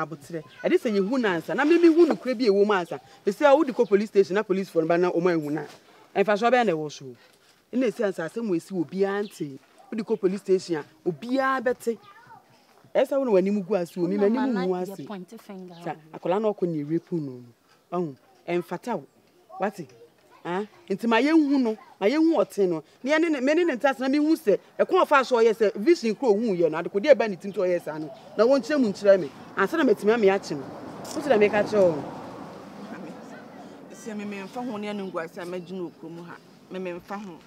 aboterɛ ɛde sɛ yɛhu no ansa na meme hu nokorɛ bi ɛwɔ mu ansa ɛsɛ a wode kɔ police station na policefoɔ no ba na ɔma ahu no a ɛmfasoɔ bɛyɛ na ɛwɔ so Nna esiane sɛ asɛm a esi wɔ obiara ntee. Wode kɔ police station a, obiara bɛte. Ɛyɛ sɛ wo na w'anim gu ase o, me m'anim ngu ase. Sa akwadaa no ɔkɔ nea rape no no. Ɔho, ɛmfata wo. Wate? Ah, nti ma yɛnhu no, ma yɛnhu ɔte no. Ne yɛne ne, me ne ne ntasena, mehu sɛ, ɛkwan a ɔfaa so ɔyɛ sɛ, vision koro ohuu yɛ no, adekode a ɛba ne tim sɛ ɔyɛ saa no, na wɔnkyerɛ mu nkyerɛ me. Ansa na matumi ame akye no. Wote dɛ meka kyerɛ wo? Sɛ me memfa ho ne ɛne ngu ase a, mɛgye no wɔ kurom ha. mememfa ho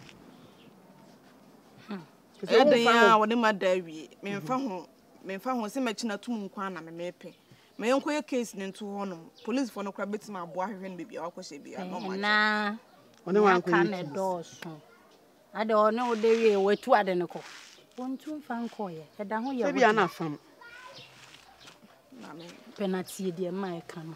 ɛyɛ dɛn a wɔde ma da awie memfa ho memfa ho sɛ mɛkyi no atom nko a na memepɛ ma yɛnkɔyɛ case no nto hɔ nom policefoɔ no kora bɛtumi aboa ahwehwɛ no baabi a wakɔhyɛ bia na ɔmaaka ne dɔɔso ade ɔne wode wie watu ade no kɔ wɔntu mfa nkɔɔyɛ ɛda ho yɛ wode pɛnatie deɛ ma ɛka no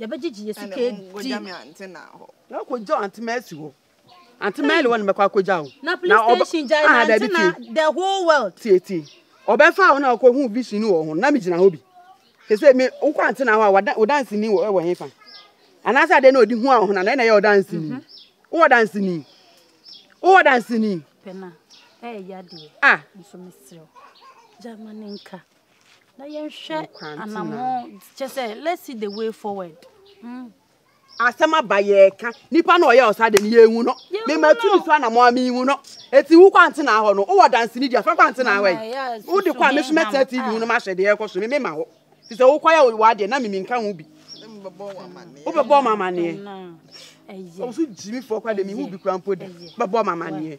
yɛbɛgyegye yɛn sika adi. ɛne wɔnkɔgya me ante na hɔ. na kɔgya wo ante ma asi hɔ ante ma ɛle wɔ ne mɛkɔ akɔgya wo na police station gya na ante na the whole world tie tie ɔbɛfa wo na ɔkɔ hu vision wɔ ho na me gyina hɔ bi sese me wokɔ ante na hɔ a wo dansi ni wɔ wɔ hefa anaasɛ adeɛ na ɔde hu a wo ho na na ɛna ɛyɛ ɔdansi ni mhm. wowɔ dansi ni wowɔ dansi ni pɛna ɛyɛ yadeɛ ah nso mesrɛ gya ma ne nka na yɛnhwɛ anammɔn kyɛ sɛ let's see the way forward mm. asɛm aba yɛka nipa na ɔyɛ ɔsa de no yɛhu no mematu ne so anammɔn a mehu no ɛti wo kwante na ahɔ no wowɔ danseni di afa kwante na ahɔ yi wode kɔ a me so mɛtena tv hu no mahyɛ deɛ ɛkɔ so me mema hɔ fi sɛ wokɔ yɛ wɔ adeɛ na mimi nka ho bi wobɛbɔ ma amanneɛ ɔso gyimi fɔ kora de mehu bi kora mpo da bɛbɔ ma amanneɛ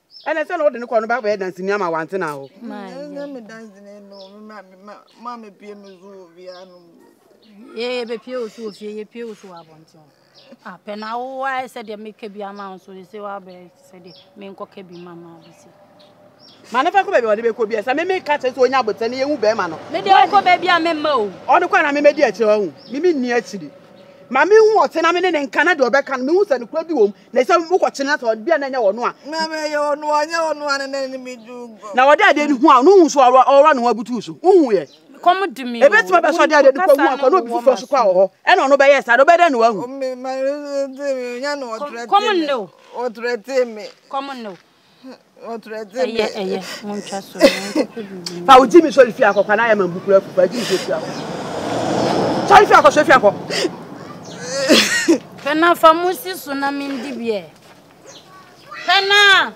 ɛnɛ sɛ na ɔde ne kɔ no bɛ abɛyɛ danseni ama wante na hɔ. ɛnyɛ me danseni no ma mepie me so wɔ fie anom yɛbɛpie wo so wɔ fie yɛpie wo so wɔ abɔnten apɛ na wo ayɛ sɛdeɛ meka bi ama wo so ɛsɛ woabɛyɛ sɛdeɛ menkɔka bi ma ma bi sɛ ma ne fa kɔ baabi a ɔde bɛkɔ bi ɛsɛ meme ka kyerɛ sɛ ɔnya abotɛ ne yɛhu bɛrima no mede ɔkɔ baabi a memma o ɔno kɔ na memɛdi akyire ɔhu meme nni akyiri ma mehu ɔte na mene ne nka na deɛ ɔbɛka no mehu sɛ nokora bi wɔ mu Na sɛ mokɔ kyene na sɛ ɔde bia na ɛnyɛ ɔno a. Na meyɛ ɔno ɔnyɛ ɔno a na na ne me du gɔ. Na ɔde adeɛ no hu a no hu so a ɔwɔ ne ho abutu so. Wohu yɛ. Kɔm de me o. Ebetumi abɛ sɛ ɔde adeɛ no kɔ hu akɔ na obi foforɔ so kɔ a wɔ hɔ. Ɛna ɔno bɛyɛ saa no ɔbɛyɛ dɛn na wahu. Kɔm nne o. ɛyɛ ɛyɛ mo ntwa so fa wo gyi mi sɔre fi akɔkwa na ayɛ ma mbukura afu fa gyi mi sɔre fi akɔ sɔre fi akɔ sɔre fi akɔ pɛna fa mo si so na mi ndi biɛ pɛna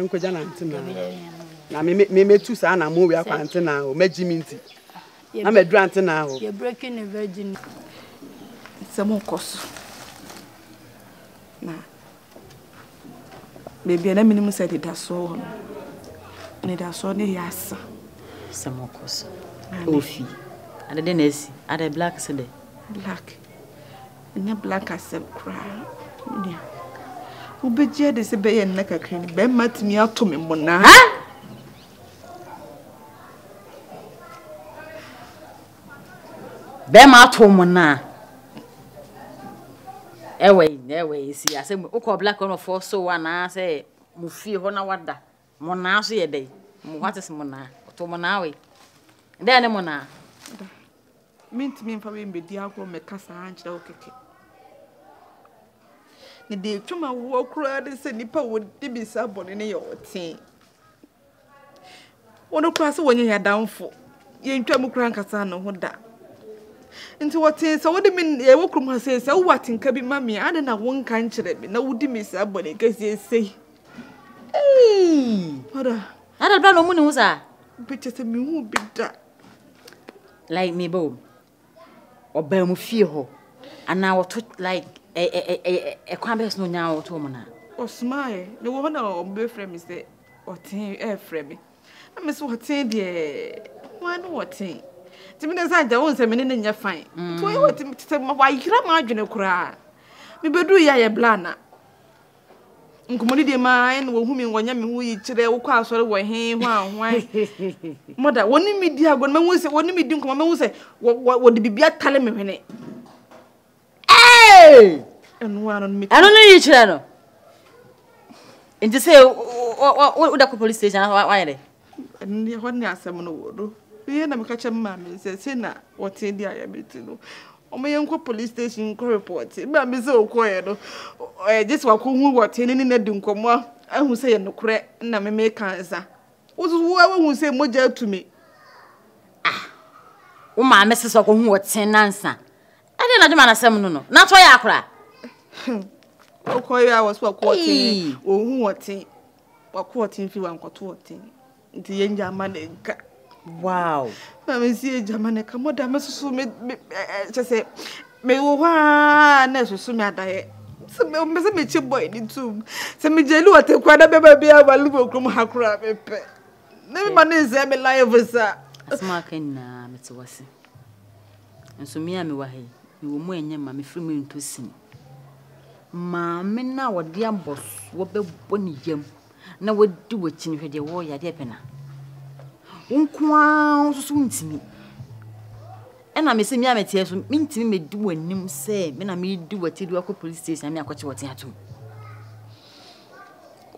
nkɔgya na ntena na memetu saa na mo wia kwa ntena o mɛgyi mi nti na maduru antenaa hɔ. Yɛ breaking ne virgin. Nsɛm nkɔ so. Na baabi a na menim sɛ anidasoɔ wɔ no, anidasoɔ no yɛ asa. Nsɛm nkɔ so. Ofi. Ade dɛ na asi. Ade black se dɛ. Black. Ɛnyɛ black asɛm koraa. Nua. Wobɛgye ade sɛ bɛyɛ nna kakra ni bɛrima tumi ato me mmonnaa. Ha! Bɛɛma ato mo na ɛwɔ yi na ɛwɔ yi si asɛ mo wokɔ black one foɔ so anaasɛ mo fie hɔ na wada mo naa so yɛ dɛn mo what is mo naa ɔto mo naa wei dɛn ne mo naa. mentumi mfa wei mbɛdi agorɔ mɛka saa nkyerɛ wo kɛkɛ ne deɛ ɛtwam awoɔ koraa ne sɛ nnipa wɔdi bisa bɔne ne yɛ ɔtee Wɔn koraa sɛ wɔnyɛ yɛn adamfo. Yɛntwa mu koraa nkasa ne ho da. Nti wɔtee sɛ wode me yɛwɔ kurom ha sei sɛ wowɔ atenka bi ma me a adɛn na wonka nkyerɛ me na wodi me saa bɔne kɛseɛ sei. Hey! Mada. Ada bra na ɔmu ne ho saa. Bɛkyɛ sɛ mehu bi da. Like me bɔ ɔbaa mu fie hɔ anaa ɔto like ɛɛ ɛkwan bɛyɛ so na onyaa ɔto wɔn na. Ɔsumaeɛ na wɔ hɔ na ɔbɛfrɛ me sɛ ɔtee ɛɛfrɛ me na me sɛ ɔtee deɛ wɔn ne ɔtee nti me de sɛ agya wɔn sɛ me ne ne nyɛ fan mm. to yɛ wɔte sɛ wɔayera m'adwene koraa mebɛduru yɛ ayɛ blana. Nkɔmmɔdidi a ɛma yɛne wɔn hu me wɔ Nyame ho yi kyerɛ wokɔ asɔre wɔ he hwan hwan mɔda wɔne me di agorɔ mɛhu sɛ wɔne me di nkɔmmɔ mɛhu sɛ wɔde biribi atale me hwene ɛno ano no ɛno no yi kyerɛ no nti sɛ woda kɔ police station wayɛ dɛ Ɛno ɛhɔ ne asɛm no wɔ no. Me yɛ na me ka kyerɛ me maame no sɛ sei na wɔtee deɛ ayɛ me nti no wɔn yɛ nkɔ police station nkɔ report. Me maame sɛ ɔkɔɛ no ɛɛ gye sɛ wakɔ hu wɔtee ne ne na di nkɔmɔ ahu sɛ yɛ nokorɛ na me me ka nsa. Wososo wo a wahu sɛ mogya atu me. Ah wo maame sɛ sɛ ɔkɔ hu wɔtee nansa. Ɛdeɛ na adwuma na asɛm no no na atɔ yɛ akora. Ɔkɔ yɛ a wɔso akɔ wɔtee ɔhu wɔtee. Wako ɔten fi wankɔto ɔten nti yɛn gya ama ne nka. Wow. Na me si yɛn gya ama ne nka mo da me soso me me kyɛ sɛ me wɔ hɔ aa na soso me adayɛ. Sɛ me me sɛ me kye boy ne tum. Sɛ me gya lu ɔten kura na bɛma bi ama lu wɔ kurom ha kura me pɛ. Na me ma ne nsɛe me life sa. Asɛm a waka nyinaa mete wase. Nso me a mewɔ ha yi, mewɔ mu a ɛnyɛ ma mefiri mu nto sini. Maame no a wɔde abɔsoɔ bɛbɔ ne yam na wadi w'akyi no hwɛ deɛ wɔreyɛ adeɛ pɛ na. Wo nko ara nso so ntumi. Ɛna me sɛ me a meteɛ so mentumi medi w'anim sɛ me na medi w'akyi de wakɔ police station na me akɔkye wɔte atom.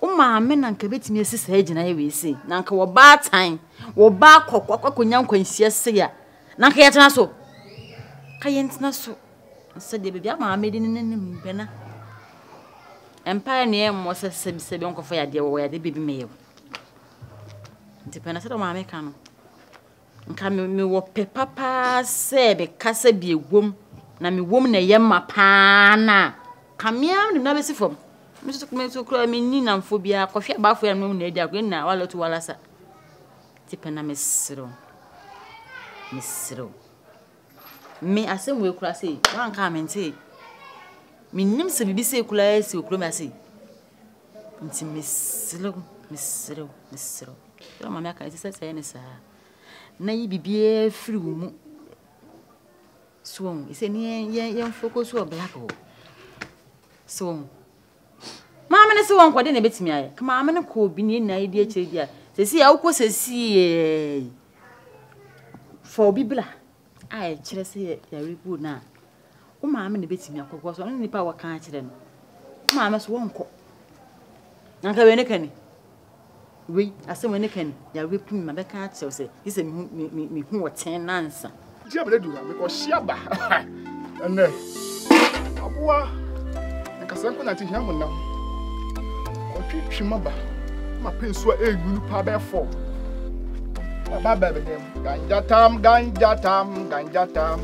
Wo maame na anka bɛtumi asi saa gyinaeɛ wei sei, na anka wɔbaatan, wɔba akɔ akɔnya nkwanhyia sei a, na anka yɛtena so. Ka yɛntena so. Sɛdeɛ baabi a maame de ne n'anim bɛna. Mpaeɛ ne ɛmmɔ sɛ sɛbi sɛbi nkɔfa yadeɛ wɔ yadeɛ baabi mɛyɛ o. Nti pɛ na sɛdeɛ maame ka no. Nka mewɔ pɛ papa ara sɛ me kasa bi ɛwom na me wom na ɛyɛ ma pa ara no a, ka me ara me de me nan bɛsi fam. Me nso me nso koraa menni nnamfo biara, kɔhwɛ abaafoɔ yɛn anum na adi agorɔ, yɛn nyinaa wala tu wala sa. Te pɛ na mesrɛ wo, mesrɛ wo. Me asɛm wei koraa sei, woanka a mentee. Mennim sɛ biribi sei koraa asi wɔ kurom ha sei. Nti mesrɛ wo, mesrɛ wo, mesrɛ wo, sɛ ɔma me aka, ɛsɛ sɛ sɛ yɛ ne saa na yi biribiara firi wo mu so ɔhu sɛ ne yɛmfoko so wɔ black hɔ so ɔhu maame no se wɔn kɔde na ebetumi ayɛ ka maame no kɔ obi ne nyinaa di akyire di a sɛsi a wokɔ sɛsi yɛ fɔ obi bla a ɛkyerɛ sɛ yare bi wɔ no a, wo maame na ebetumi akɔ because ɔno ne nipa a wɔka akyerɛ no. Wo maame so wɔnkɔ. Na nka wei ne ka ni. Wei asɛm wei ne ka ni. Yare bi ma bɛka akyerɛ wo sɛ gye sɛ mehu me me mehu wɔ ten nansa. Nti abere du na mekɔhye aba. Ɛnɛ aboa nkasa nko na nti hia honam. Ɔtwetwe maba ma pɛ nsuo a ɛyɛ nwunu paa bɛyɛ fam. Aba bɛbɛdɛm. Ganja tam, ganja tam, ganja tam.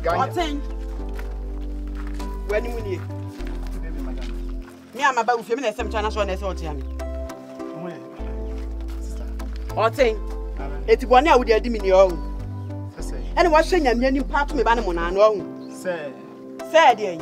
Ganja. Ɔten. Wani mu nie. Mi ama ba ufie mi na ɛsɛm kyana so na ɛsɛ ɔte ami. Ɔten. Eti bɔ ne a wode adi mi ni ɔhu. Ɛna wahyɛ nyamea nipa ato me ba ne mo na ano ɔhu. Sɛ. Sɛ deɛ.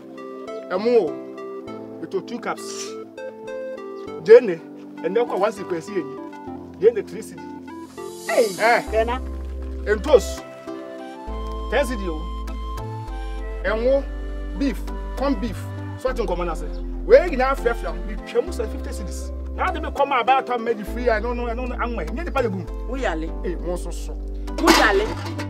ɛmo o ɛtɔ two cups gyene ɛnɛ kɔ one sequence yɛ ni gyene three cd ɛɛ ntos ten cd o ɛmo beef corn beef so ati nkɔmɔ na se wei nyinaa firafira mi twɛ mu sɛ fifty cds na adi mi kɔ ma abaa atɔ mɛ di firi ya ɛno no ɛno no anwɛ nyɛ nipa de bum. wuyale. ee mo nso so. wuyale.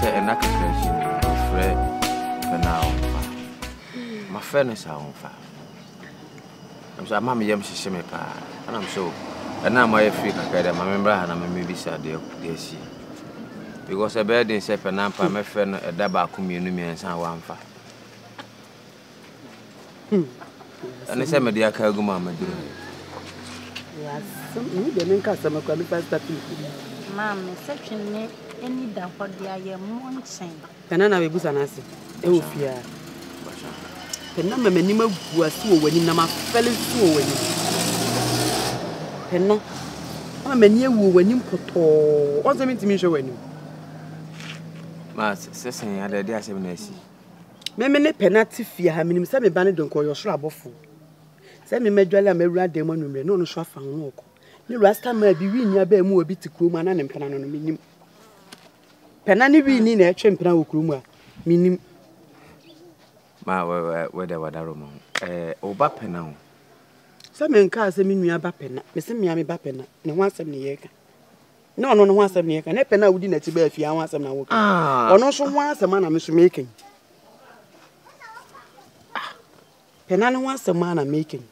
Sɛ ɛna kakra akyi no, mefrɛ Fɛna a ɔmfa. Mafrɛ no saa ɔmfa. Ɛm sɛ ama me yam hyehye me paa. Ɛna m sɛ o, ɛna ama yɛ firi kakra dɛ, ma me mmra ha na memmebisa deɛ deɛ asi. Because ɛbɛyɛ den sɛ Fɛna mpa mɛfrɛ no ɛda baako mmienu mmiɛnsa a wamfa. ɛne sɛ mede aka agu ma maduru mu maame sɛ twene ani da hɔ de ayɛ mmɔ nkyɛn ɛna na bɛbusa no ase ɛwɔ fie pɛna ma m'anim agu ase wɔ w'anim na mafɛle so wɔ w'anim pɛna ama m'ani awu wɔ w'anim pɔtɔɔ ɔnsɛ mentumi nhwɛ w'anim ma sɛsɛn adade asɛm na asi Me me ne pɛ no ate fie ha, menim sɛ me ba no de nkɔ ɔyɛ ɔsoro abɔfo. Sɛ me madwale a mawura dan mu anwummerɛ na ɔno nso afa ho no ɔkɔ. Ne rasta maa bi wii nua baa mu a bi te kurom a na ne mpena no no menim. Pɛna ne wii ni na ɛtwe mpena wɔ kurom a menim. Ma wɛdɛ wadaro ma ho. Ɛɛ ɔba pɛna ho. Sɛ menkaa sɛ me nua ba pɛna, mese mmea me ba pɛna, ne ho asɛm ne yɛreka. Na ɔno no ho asɛm na yɛka, na pɛ no a wodi n'akyi baa fie ara ho asɛm na woka. Ah. Ɔno nso ho asɛm a na me nso meka yi. Ah. Pɛ na ne ho asɛm a na meka yi.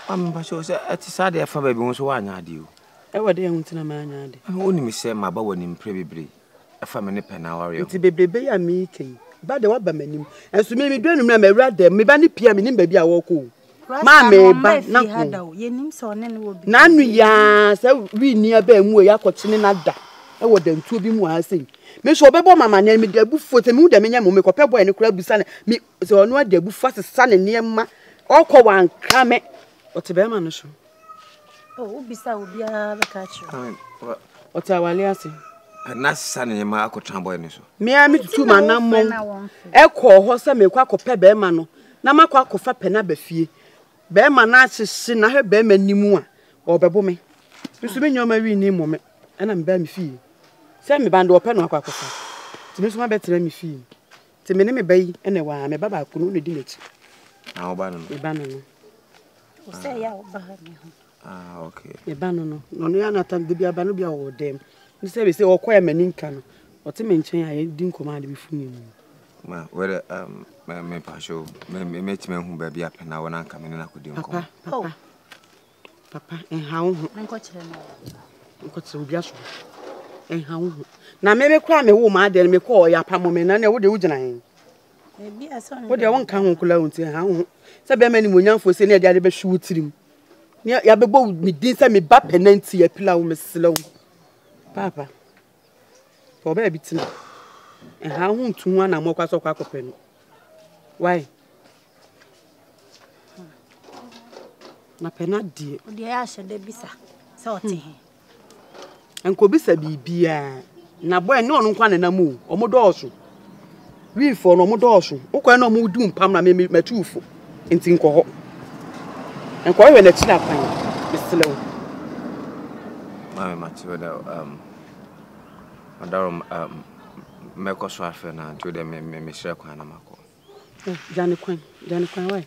Ampa sɛ sɛ ɛte saa deɛ ɛfa baabi ho nso woanyɛ adeɛ o. Ɛwɔ dɛ ɛho nti na maanyɛ adeɛ. Wonim sɛ maba w'anim mprɛ bebree. fa me ne pɛ no awareɛ ho. Nti bebrebe yi a mereka yi, ba deɛ waba m'anim. Nso me medu anwummerɛ a mawura dɛm, me ba ne pia menim baabi a wɔrekɔ o. Maa me ba na ko. Na ano yi ara sɛ wini abɛn mu o, yɛakɔkyene no ada wɔ dantuo bi mu aha sei. Me nso ɔbɛbɔ ma amaneɛ, mede abufuo, sɛ mehu deɛ menyɛ mo, mekɔpɛ bɔɛ no koraa bisa no, me, sɛ ɔno ade abufuo asesa ne nneɛma, ɔkɔ wankra me, ɔte bɛrima no so. Oh, wobisa obiara bɛka kyerɛ. Ɔte awale ase. Ɛna sisa ne yɛma akɔtena bɔe no so. Mmea me tutu ma na mmɔn. Ɛkɔɔ hɔ sɛ mekɔ akɔpɛ bɛrima no na makɔ akɔfa pɛ no aba fie. Bɛrima no ahyehye na ahwɛ bɛrima ni mu a ɔbɛbo me. Nso me nneɛma wi ni mmɔ me. Ɛna mebaa me fie. Sɛ meba no deɛ ɔpɛ no akɔ akɔfa. Nti me nso mabɛtena me fie. Nti me ne me ba yi na ɛwɔ ha, me ba baako no na ɔdi m'akyi. Na wo ba no no? Me ba no no. Wo sɛ yɛ a wo ba ha bi ho. Ah, okay. Me ba no no, na ɔno yɛ anatan de bi aba no bi a ɔwɔ dɛm. Ne sɛ bɛsɛ ɔkɔɛ ma ni nka no, ɔte me nkyɛn a yɛdi nkɔmɔ ade bi fo ne mu. Ma, wɛrɛ, um, me, me pa show, me, me, me tumi ahu baabi a pɛna wɔ na nka me ne na kɔdi nkɔmɔ. Papa, papa. Oh. Papa, nha wo ho. Menkɔkyerɛ no. Menkɔkyerɛ obi aso. Nha wo ho. Na me me kora me wo ma adeɛ no me kɔ ɔyɛ apamo me na ne wo de wo gyina he. Ebi asɔ no. Wo de wo nka ho kula wo nti nha wo ho. Sɛ bɛma ni mo nyamfo sɛ ne ade ade bɛhwe wo tirim. Ne ya bɛbɔ me din sɛ me ba pɛ na nti ya pila wo me srɛ wo. Papa. Kɔ baabi tena. Ɛha wo ho ntu ho anammɔ kwa sɛ ɔkɔ akɔpɛ no. Why? Na pɛ no adeɛ. Ɔde ɛyɛ ahyɛ da bisa sɛ ɔte hmm. he. Nkɔbisa biribiaa. Na bɔ ɛne ɔno nkwa nenam o. Ɔmo dɔɔso. Wifoɔ no ɔmo dɔɔso. Wokɔɛ na ɔmo du mpam na me me matu wofo. Nti nkɔ hɔ. Nkɔ hwɛ n'akyi na kwan. Mesrɛ wo. Maame mate wo dɛ um ɔdaro um mɛkɔ so afrɛ no anto dɛ me me mesrɛ kwan na makɔ. Gya ne kwan. Gya ne kwan wae.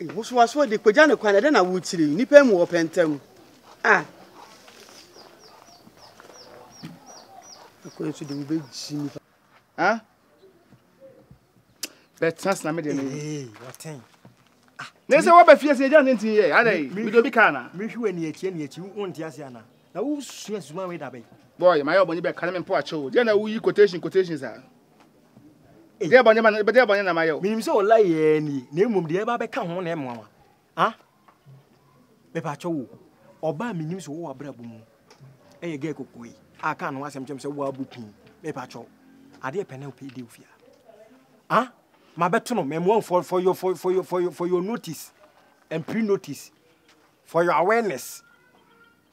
Nhosoasoɔ de pagya ne kwan ɛdɛ na wotiri nnipa mu ɔpɛ ntam a ɛkwan so de wobɛgyi nnipa ha bɛtena sena me deɛ ne ne sɛ wɔbɛ fie sɛ ɛgya ne nti yɛ adɛ mede obi kaa na mehwe wɔ aniakyie aniakyie wo nte ase anaa Na wo sua zuma we da bɛn. Boy, mayɛ ɔbɔne bɛ kane me mpo akyɛ o, deɛ na wo yi quotation quotation saa? Eh. Deɛ bɔne ma no, deɛ bɔne na mayɛ o. Menim sɛ ɔla yɛɛ nie, na mmom deɛ ɛba bɛka ho na ɛmoa wa. Ah, bɛ pa akyɛ wo, ɔba a menim sɛ ɔwɔ abrabɔ mu, ɛyɛ gɛ koko yi, a ka no asɛm kyɛm sɛ wo abu pin, bɛ pa akyɛ wo, adeɛ pɛ na wo pɛ di ofia. Ah, ma bɛto no, mɛmoa wo for, for, your, for, for, your, for, your, for your notice, and pre-notice. For your awareness,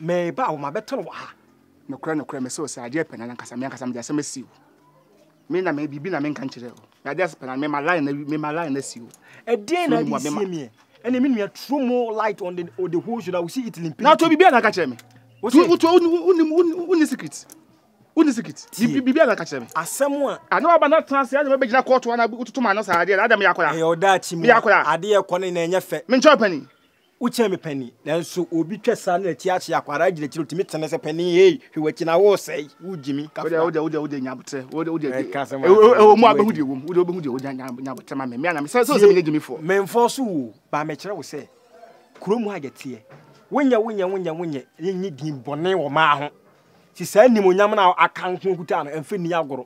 meba wo mabɛtɔ no wɔ ha. Nokorɛ nokorɛ mese wo sɛ adeɛ pɛ na nankasa me ankasa mede asɛm asi wo. Me na me biribi na menka nkyerɛ wo. Na adeɛ pɛ na mema line na mema line na si wo. Ɛdeɛn na adi sie meɛ? Ɛne me nua throw more light on the, on the whole show that we see it in Na to biribi na ka kyerɛ me. Wotu wotu wonim wonim secret. Wonim secret. Biribi na ka kyerɛ me. Asɛm a. Ana waba na tena ase ana bɛgyina kɔɔto ana wototo ma no saa adeɛ na adam yɛ akora. Ɛyɛ ɔdaakye mu. Yɛ akora. Adeɛ kɔ ne na ɛnyɛ fɛ. Menkyɛ ɔpani. Wokyɛn me panin, nanso obi twa saa na ti ahye a, kɔ ara gyina akyiri, otumi tene sɛ, Panin, hey, hwɛ w'akyi na woresɛe, wogye me, ka fra. Wode, wode, wode nya aboterɛ, wode, wode, Mɛka sɛ wode, wode, ɛwɔ mu a, bɛhu deɛ ɛwɔ mu, wode, wobɛhu deɛ ɛwɔ mu, nya, nya aboterɛ ma me, me a na me, sɛ, sɛ, sɛ menyɛ gyimifoɔ. Memfɔɔ so wo o, ba mekyerɛ wo sɛ, kuro mu a yɛteɛ, wonyɛ, wonyɛ, wonyɛ, wonyɛ, nnye din bɔne wɔ maa ho, si saa animuonyam no a aka nko kuta no, ɛmfa nni agorɔ.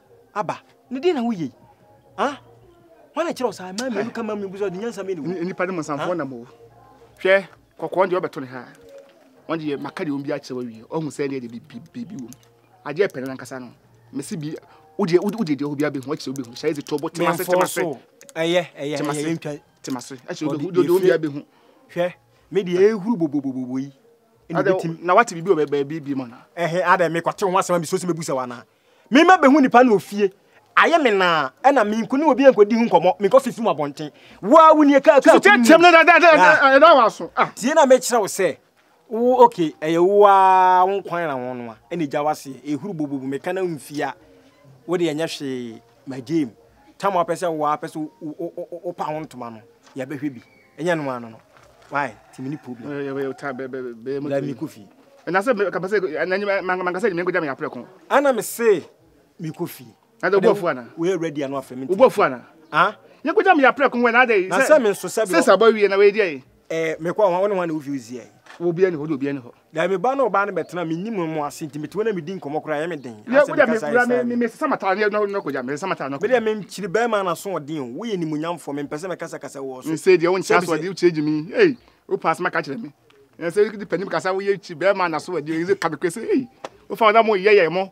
aba na deɛ na woyɛ yi ah wɔn na kyerɛw saa mmaa mmienu ka mmaa mmienu sɛ ɔde nyansa mmienu wo nipa no mu nsamfoɔ nam o hwɛ kɔkɔɔ deɛ ɔbɛto ne ha wɔn deɛ maka deɛ wɔn bi akyerɛ wawie ɔhu sɛ deɛ deɛ biribi wɔ mu adeɛ pɛrɛ nankasa no mesi bi wodeɛ wodeɛ deɛ obi abɛhu akyerɛ obi hu hyɛ ɛdze tɔbɔ tema se tema se ɛyɛ ɛyɛ ɛyɛ ntwa tema se akyerɛ obi hu deɛ obi abɛhu hwɛ me deɛ ehuru bobobobobo yi na wate biribi wɔ baabi bi mu na ɛhɛ adɛ mekɔte ho asɛm a mesuo sɛ mɛbu sɛ wo anaa Mema behu nipa no wɔ fie. Ayɛ me naa, ɛna menko ne obi nkɔdi ho nkɔmmɔ, menkɔ fifi mu abɔnten. Wo ara wunie kaa kaa kunu mu. Tiam na ɛda wo aso. Tie na mekyerɛ wo sɛ, wo ok, ɛyɛ wo ara wo nkwan na wo noa, ɛna gya w'aseɛ. Ehuru bobobo, meka na mfie a, wo deɛ ɛnyɛ hwee. My game tam a wopɛ sɛ woa pɛ sɛ wopa ho ntoma no yɛbɛhwɛ bi ɛnyɛ no ano no why ti mi ni problem eh, yɛ ta bɛ bɛ bɛ mo mi ko fi na sɛ ka pɛ sɛ na nyɛ man ka sɛ nyɛ ko jam ya prɛ ko ana me se mi ko fi na de obofu ana we ready ano afɛ mi obofu ana ah nyɛ ko jam ya prɛ ko na de na sɛ me nso sɛ bi sɛ sabɔ wie na we die eh me ko ho ne ho na wo fi uzie wo bia ni ho do bia ni ho Dabi, me ba ne ɔbaa no bɛtena, mennim wɔn, mo ase, enti mete hɔ na medi nkɔmmɔ koraa a, ɛyɛ me den. Yɛ, Ansa wodeɛ, mekasa a, mebra, ɛsaa me. mesesa m'ataade na, na, na kɔgya, mesesa m'ataade na kɔgya. Medeɛ, menkyiri barima anasoɔden o, woyɛ animuonyamfoɔ, mempɛ sɛ mɛkasakasa wɔ wo so. Nsei deɛ, wonkyiri Sɛ bisɛ. asoɔden, wokyiri gyimi, ei, wopɛ asɛm aka akyerɛ me? Ɛnsɛ, wode panin kasa, woyɛ kyiri barima anasoɔden o, ɛnsɛ, ka nokorɛ sɛ, ei, wofa wɔn a wɔyɛ yɛn mo,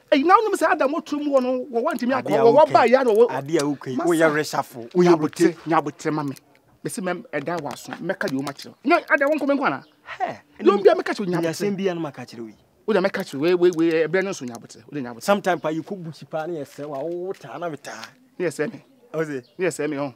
Eyi na wonim sɛ Adam ɔturo mu hɔ no wɔ wɔntumi akɔ wɔ wɔba yɛ na wɔ. Adeɛ a woka yi woyɛ resafo woyɛ bote. Nyabotere ma me mesi mɛ ɛda wɔ aso mɛka deɛ ɔma kyerɛ. Nya ada wɔn nkɔmɛ nko ana. Hɛ. Yom bia mɛka kyerɛ nyabotere. Nyasɛm bia no maka kyerɛ wo yi. Wo deɛ mɛka kyerɛ wei wei ɛbrɛ no nso nyabotere wo deɛ nyabotere. Sometime pa yɛkɔ bukyi paa ne yɛsɛ wa wo taa na metaa. Ne yɛsɛ me. Ɔse. Ne yɛsɛ me ɔn.